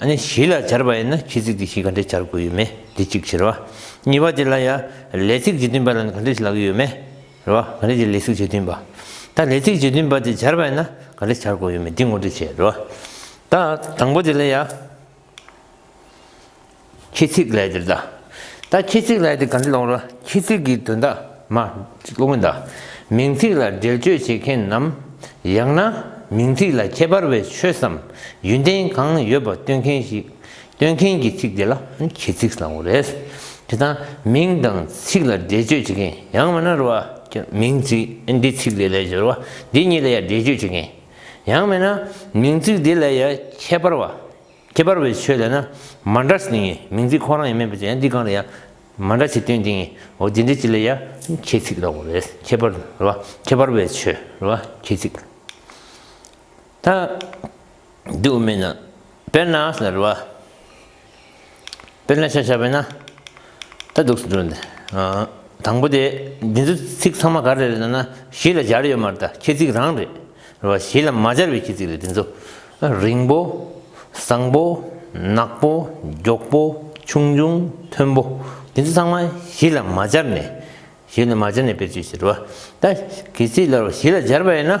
ཨ་ནི་བཞི་ལ་སྦྱར་བ་ཡིན་ན་ཁྱི་ཚིག་དེ་བཞི་ག་འདྲས་སྦྱར་དགོས་ཡོད་མེད་དེ་གཅིག་བྱེད་རེད་བ། གཉིས་པ་དེ་ལ་ཡ། ལས་ཚིག་རྗེས་མཐུན་པ་ལ་ནི་ག་འདྲས་བྱེད་ལག་གི་ཡོད་མེད་རེད་བ། ག་འདྲས་ཀྱི་ལས་ཚིག་རྗེས་མཐུན་པ། ད་ལས་ཚིག་རྗེས་མཐུན་པ་དེ་སྦྱར་བ་ཡིན་ན་ག་འདྲས་སྦྱར་དགོས་ཡོད་མེད་འདི་ངོ་སྤྲོད་བྱེད་རེད་བ། ད་དང་པོ་དེ་ལ་ཡ། ཁྱེད་ཚིག་ལས་དེ་བཟླ། ད་ཁྱེད་ཚིག་ལས་དེ་ག་འདྲ་སློང་རོགས་ཁྱེད་ཚིག་གི་དོན་དག་མ་སློང་མི་གདའ། མིང་ཚིག་ལ་འགྲེལ་བརྗོད་བྱེད་མཁན་ནམ། ཡང་ན་མིང་ཚིག་ལ་ཁྱད་པར་བའི་ཆོས་སམ་ཡོན་ཏན་གང་ཡོད་པ་སྟོན་མཁན་ཞིག་སྟོན་མཁན་གྱི་ཚིག་དེ་ལ་ཁྱེད་ཚིག་བཟླ་འོ་རེད། དེ་ད་མིང་དང་ཚིག་ལ་འགྲེལ་བརྗོད་བྱེད་མཁན་ཡང་མེད་ན་རུ་བ་ཀྱི་མིང་ཚིག་འདི་ཚིག་དེ་ལས་སྦྱོར་བ་འདི་གཉིས་ལ་ཡང་འགྲེལ་བརྗོད་བྱེད་མཁན་ཡང་མེད་ན་མིང་ཚིག་དེ་ལ་ཡང་ཁྱད་པར་བ། ཁྱད་པར་བའི་ཆོས་ལས་ན་མ་འདྲ་ཞིང་ངེས་མིང་ཚིག་ཁོ་རང་ཡང་མེད་པའི་ཆ་ཡང་འདི་གང་ལ་ཡང་མ་འདྲ་ཞེས་སྟོན་ཅིང་འོ་དེ་འདྲའི་ཆོས་ལ་ཡང་ཁྱད་ཚིག་ལོག་པ་རེད་ཁྱད་པར་རེད་བ་ཁྱད་པར་བའི་ཆོས་རེད་བ་ཁྱད་ཚིག་ད་དུ་མེད་ན་དཔེར་ན་ཟེར་བ་དཔེར་ན་ཤ་ཆ་བས་ན། ད་འདུག་སུ་འགྲོ། དང་པོ་དེ། འདི་ཚོ་ཚིག་ཚང་མ་ག་རེ་རེད་ཟེར་ན་གཞི་ལ་སྦྱར་ཡོད་མ་རེད་ད་ཁྱེད་ཚིག་རང་རེད། རེད་བ། གཞི་ལ་མ་སྦྱར་བའི་ཁྱེད་ཚིག་རེད་འདི་ཚོ། རིང་པོ། བཟང་པོ། ནག་པོ། མགྱོགས་པོ། ཆུང་ཆུང། མཐོན་པོ། འདི་ཚོ་ཚང་མ་གཞི་ལ་མ་སྦྱར་ནས། གཞི་ལ་མ་སྦྱར་ནས་སྤེལ་ཚུལ་ཞིག་རེད་བ། ད་ཁྱེད་ཚིག་ལ་གཞི་ལ་སྦྱར་བ་ཡིན་ན།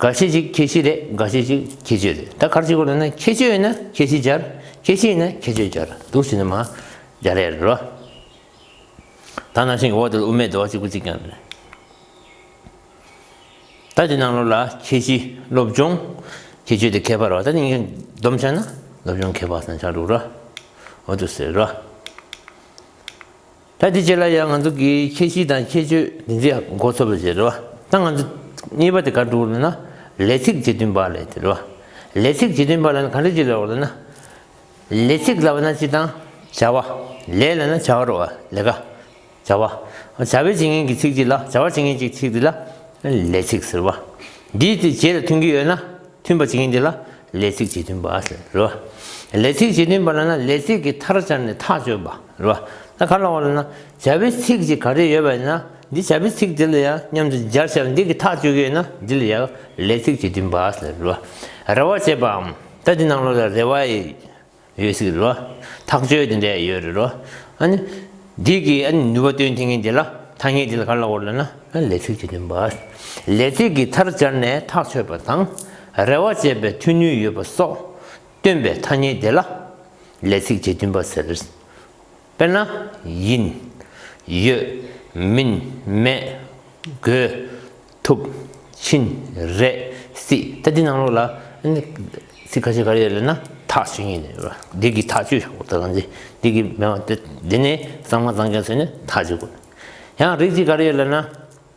འགའ་ཤས་ཤིག་ཁྱད་གཤིས་རེད་འགའ་ཤས་ཤིག་ཁྱད་ཆོས་རེད་ད་གར་ཆེ་གོ་ལ་ན་ཁྱད་ཆོས་ཡོད་ན་ཁྱད་གཤིས་སྦྱར་ཁྱད་གཤིས་ཡོད་ན་ཁྱད་ཆོས་སྦྱར་འདུག་ཟེར་ན་མ་སྦྱར་ཡ་རེད་རོ། ད་ནང་བཞིན་གྱི་འོག་དེ་ལ་དབུ་མའི་རྡོ་བ་གཅིག་པུ་གཅིག་ཀྱང་རེད། ད་དེ་ནང་ལོགས་ལ་ཁྱད་གཤིས་སློབ་སྦྱོང་ཁྱད་ཆོས་དེ་ཁྱད་པར་བ་ད་གཉིས་ཀའི་བསྡོམས་ཆགས་ན་སློབ་སྦྱོང་ཁྱད་པར་ས་ཆགས་འདུག་རོ་འོ་དུ་ཟེར་རོ། ད་དེ་བྱས་ལ་ཡང་ང་ཚོ་གི་ཁྱད་གཤིས་དང་ཁྱད་ཆོས་འདི་འདྲ་ཡང་མགོ་ཚོས་པ་བྱེད་རེད་བ། ད་ང་ཚོ་གཉིས་པ་དེ་གར་འགྲོ་རེད་ན། ལས་ཚིག་བྱེད་འདུན་པ་ལས་དེ་རེད་བ། ལས་ཚིག་བྱེད་འདུན་པ་ལས་ན་ག་འདྲ་བྱེད་ལ་རེད་ན། ལས་ཚིག་ལ་བ་ན་སྤྱི་དང། བྱ་བ། ལས་ལ་ན་བྱ་བ་རེད་བ། ལས་ཀ། བྱ་བ། བྱ་བའི་བྱེད་ངན་གྱི་ཚིག་ཅིག་ལ་བྱ་བ་བྱེད་ངན་གྱི་ཚིག་དེ་ལ། ལས་ཚིག་ཟེར་བ། འདིས་དེ་བྱེད་ལ་མཐུན་གྱི་ཡོད་ན། མཐུན་པ་བྱེད་མཁན་དེ་ལ་ལས་ཚིག་རྗེས་མཐུན་པ་ཟེར་རོ། ལས་ཚིག་རྗེས་མཐུན་པ་ལ་ན་ལས་ཚིག་གི་མཐར་སྦྱར་ནས་ཐག་གཅོད་པ་རོ། ད་ག་ལ་བ་ལ་ན་བྱ་བའི་ཚིག་ཅིག་ག་རེ་ཡོད་པ་ཡིན་ན་འདི་བྱ་བའི་ཚིག་དེ་ལ་ཡང་སྙམ་དུ་སྦྱར་བྱ་བ་འདི་གི་ཐག་གཅོད་རྒྱུ་ཡིན་ན་འདི་ལ་ཡང་ལས་ཚིག་རྗེས་མཐུན་པ་ཟེར་རོ། རེ་བ་བྱེད་པའམ་ད་འདི་ནང་ལོགས་ལ་རེ་བ་ཡི། ཡོད་སྲིད་རོ། ཐག་གཅོད་དེ་འདྲས་ཡོད་རེད་རོ། ཨ་ནི། འདི་གི་ཨ་ནི་ནུས་པ་སྟོན་ཐེངས་ངེས་དེ་ལ་ཐ་སྙད་དེ་ལ་ག་ལ་འོར་ལ་ན། ལས་ཚིག་དེ་འདོན་པ། ལས་ཚིག་གི་མཐར་སྦྱར་ནས་ཐག་ཆོད་པ་དང། རེ་བ་བཅད་པའི་མཐུ་ནུས་ཡོད་པ་སོགས་སྟོན་པའི་ཐ་སྙད་དེ་ལ། ལས་ཚིག་དེ་འདོན་པ་ཟེར། དཔེར་ན། ཡིན། ཡོད། མིན། མེད། དགོས། ཐུབ། ཕྱིན། རེད། སྲིད། ད་འདི་ནང་ལོགས་ལ། ཚིག་ཁ་ཤས་ག་རེ་ཡོད་རེད་ན། ཐག་ཆོད་ངེས་ཡོད་རེད། འདི་གི་ཐག་ཆོད་ཤོག་ད་ག་ཚོད་འདི་གི་མེད་པ་སྟེ། འདི་ནས་གཙང་མ་གཙང་མཁན་ཚོས་ནི་ཐག་གཅོད་དགོས། ཡང་རིགས་གཅིག་ག་རེ་ཡོད་ལབ་ན།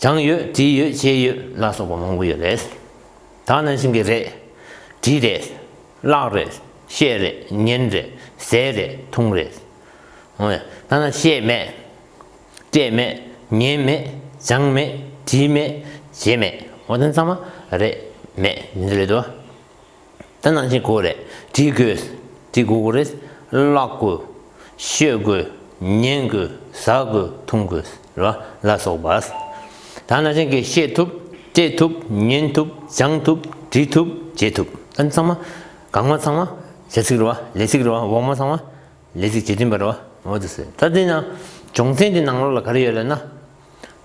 བྱང་ཡོད་བྲིས་ཡོད་ཤེས་ཡོད་ལ་སོགས་པ་མང་པོ་ཡོད་རེད། ད་ནང་བཞིན་གྱི་རེད། བྲིས་རེད། བཀླགས་རེད། ཤེས་རེད། ཉན་རེད། ཟས་རེད། འཐུང་རེད། འོ་ཡ། ད་ནང་ཤེས་མེད། བཀྲེས་མེད། ཉན་མེད། སྦྱངས་མེད། བྲིས་མེད། བྱས་མེད། འོ་ད་ནང་ཚང་མ། རེད། མེད། འདི་རེད་དོ། དེ་ནང་བཞིན་གོ་རེ་བྲིས་དགོས། བྲིས་དགོས་གོ་རེ། བཀླག་དགོས། ཤོད་དགོས། ཉན་དགོས། ཟ་དགོས། འཐུང་དགོས། རེད་བ། ལ་སོགས་པ། ད་ནང་བཞིན་གྱིས་ཤེས་ཐུབ། སྤྲད་ཐུབ། ཉན་ཐུབ། སྦྱང་ཐུབ། བྲིས་ཐུབ། བྱེད་ཐུབ། ད་ནི་ཚང་མ། གང་མ་ཚང་མ། བྱ་ཚིག་རེད་བ། ལས་ཚིག་རེད་བ། འོག་མ་ཚང་མ། ལས་ཚིག་བྱེད་བདུན་པ་རེད་བ། འོག་ཏུ་སོས། ད་འདི་ནང། སྦྱོང་ཚན་གྱི་ནང་ལོགས་ལ་ག་རེ་ཡོད་རེད་ན།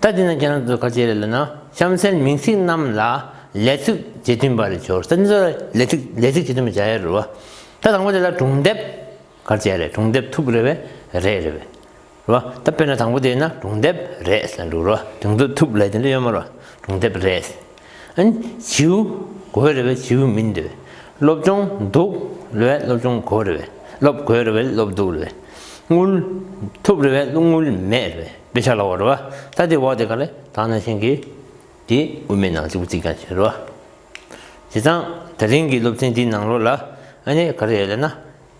ད་དེ་ནས་རྒྱ་ནག་ཏུ་ཁ་ཆེ་རེད་ལབ་ན་གཤམ་གསལ་མིང་ཚིག་རྣམས་ལ་ལས་ཚིག་རྗེས་མཐུན་པ་རེ་འབྱོར་ས་འདི་ཚོ་ལས་ཚིག་ལས་ཚིག་རྗེས་མཐུན་པ་བྱ་ཡ་རུ་བ་ད་དང་པོ་དེ་ལ་གྲུང་དེབ་གར་བྱས་རེད་གྲུང་དེབ་ཐུག་རེད་བས་རེད་རེད་བས་རུ་བ་ད་དཔེར་ན་དང་པོ་དེ་ཡིན་ན་གྲུང་དེབ་རེད་ས་འགྲོ་རུ་བ་དེང་དུ་ཐུག་ལས་དེ་འདྲ་ཡོད་མ་རུ་བ་གྲུང་དེབ་རེད། བྱིའུ། གོས་རེ་བའི་བྱིའུ་མིན་ཏེ། སློབ་སྦྱོང། འདུག་རེ་བའི་སློབ་སྦྱོང་གོས་རེ་བས། སློབ་གོས་རེ་བའི་སློབ་འདུག་རེ་བས། རྔུལ། ཐུབ་རེ་བའི་སློབ་རྔུལ་མེད་རེ་བས་དཔེ་ཆ་ལ་བ་རེ་བ། ད་དེའི་འོག་དེ་ག་ལས་དག་ན་ཤེས་གི། དེ་དབུ་མའི་ནང་བྱིའུ་ཚིག་ཀྱང་བྱེད་རེ་བ། བྱས་ཙང་ད་རིང་གི་སློབ་ཚན་འདིའི་ནང་ལོ་ལ། ག་རེ་ཡོད་ལ་ན།